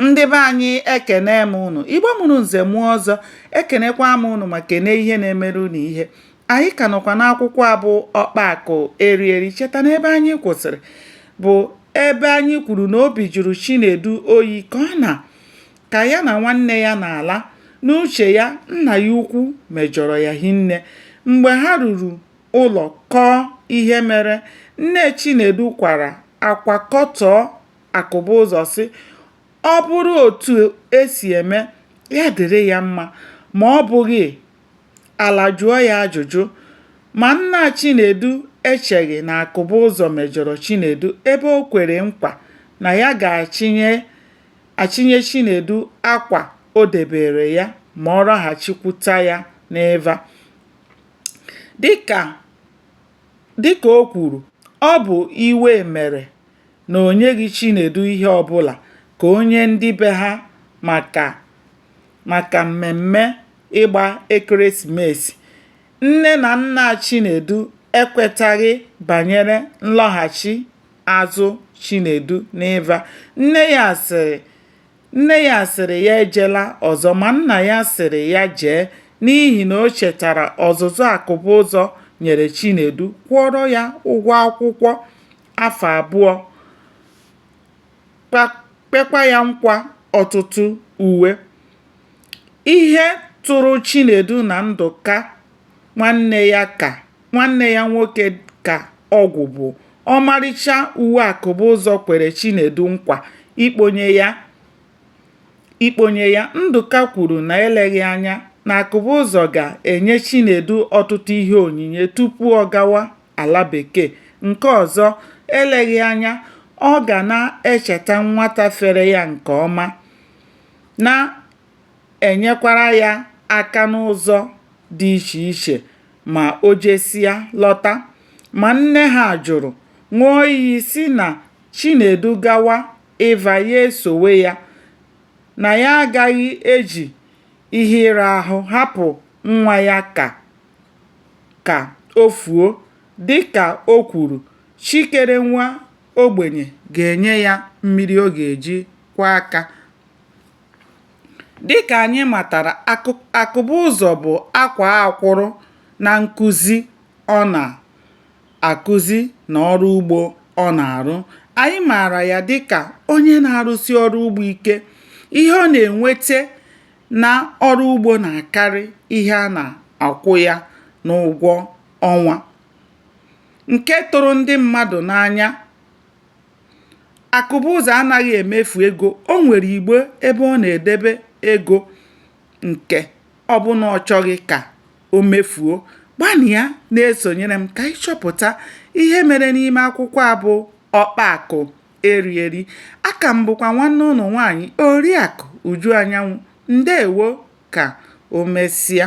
ndị be anyị ekene m ụnụ igbo mụrụ nze mụọ ọzọ ekenekwa m ụnụ ma kene ihe na-emere ụnụ ihe anyị ka nọkwa n'akwụkwọ a bụ ọkpa akụ eri eri cheta na ebe anyị kwụsịrị bụ ebe anyị kwuru na obi jụrụ chinedu oyi ka ọ na ka ya na nwanne ya na-ala n'uche ya nna ya ukwu mejọrọ ya hinne mgbe ha ruru ụlọ kọọ ihe mere nne chinedu kwara akwa kọtọọ Akụbụzọ sị ọ bụrụ otu e si eme ya dịrị ya mma ma ọ bụghị ala jụọ ya ajụjụ ma nna Chinedu echeghị na Akụbụzọ mejọrọ Chinedu ebe o kwere nkwa na ya ga-achịnye achịnye Chinedu akwa o debeere ya ma ọ rọghachikwuta ya n'Ịva. Dịka o kwuru, ọ bụ iwe mere na o nyeghị Chinedu ihe ọbụla ka o nye ndị be ha maka mmemme ịgba ekeresimesi. Nne na nna Chinedu ekwetaghị banyere nlọghachi azụ Chinedu n'Ịva. Nne ya sịrị ya ejela ọzọ ma nna ya sịrị ya jee n'ihi na o chetara ọzụzụ Akụbụzọ nyere Chinedu kwụọrọ ya ụgwọ akwụkwọ. afọ abụọ kwekwa ya nkwa ọtụtụ uwe ihe tụrụ Chinedu na Ndụka nwanne ya nwoke ka ọgwụ bụ ọmarịcha uwe Akụbụzọ kwere Chinedu nkwa ikponye ya Ndụka kwuru na eleghị anya na Akụbụzọ ga-enye Chinedu ọtụtụ ihe onyinye tupu ọ gawa ala bekee nke ọzọ eleghị anya ọ ga na-echeta nwata fere ya nke ọma na-enyekwara ya aka n'ụzọ dị iche iche ma o jesịa lọta. Ma nne ha jụrụ, ṅụọ iyi sị na Chinedu gawa Ịva ya esowe ya, na ya agaghị eji ihe ịra ahụ hapụ nwa ya ka ka o fuo dịka o kwuru chi kere nwa ogbenye ga-enye ya mmiri ọ ga-eji kwọọ aka. Dịka anyị matara Akụbụzọ bụ akwaa akwụrụ na nkuzi ọ na-akuzi na ọrụ ugbo ọ na-arụ. Anyị maara ya dịka onye na-arụsi ọrụ ugbo ike. Ihe ọ na-enwete na ọrụ ugbo na-akarị ihe a na-akwụ ya n'ụgwọ ọnwa nke tụrụ ndị mmadụ n'anya. Akụbụzọ anaghị emefu ego. O nwere igbe ebe ọ na-edebe ego nke ọ bụ na ọ chọghị ka o mefuo. Gbanịa na-esonyere m ka anyị chọpụta ihe mere n'ime akwụkwọ a bụ Ọkpa Akụ. eri eri aka m bụkwa nwanne ụnụ nwaanyị Oriakụ Uju Anyanwụ ndeewo ka o mesịa